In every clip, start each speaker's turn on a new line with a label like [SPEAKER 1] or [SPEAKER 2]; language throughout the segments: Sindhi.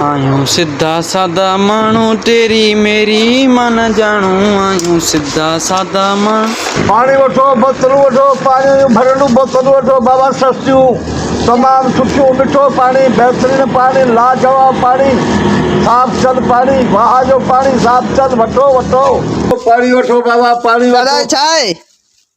[SPEAKER 1] آهيون سڌا سادا ماڻهو تيري ميري مان نه ڄاڻو آهيون سڌا سادا ماڻهو. پاڻي وٺو
[SPEAKER 2] بوتلون وٺو پاڻيء جون ڀريلون بوتلون وٺو بابا سستيون تمام سٺيون مٺو پاڻي بهترين پاڻي لاجواب پاڻي صاف چل پاڻي واهه جو پاڻي صاف چل وٺو وٺو پاڻي وٺو بابا پاڻي وٺو.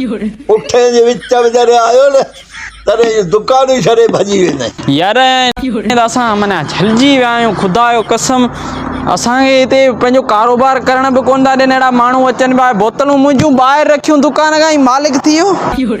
[SPEAKER 2] پٺين جي وچ ۾ جڏهن آيو نه تڏهن اهي دڪان ئي ڇڏي ڀڄي ويندائين. يار ائين
[SPEAKER 1] ته اسان معنيٰ جهلجي ويا آهيون خدا جو قسم اسان کي هتي پنهنجو ڪاروبار ڪرڻ به ڪونه ٿا ڏين اهڙا ماڻهو اچن پيا بوتلون منهنجون ٻاهر رکيون دڪان کان هي مالڪ ٿي ويو.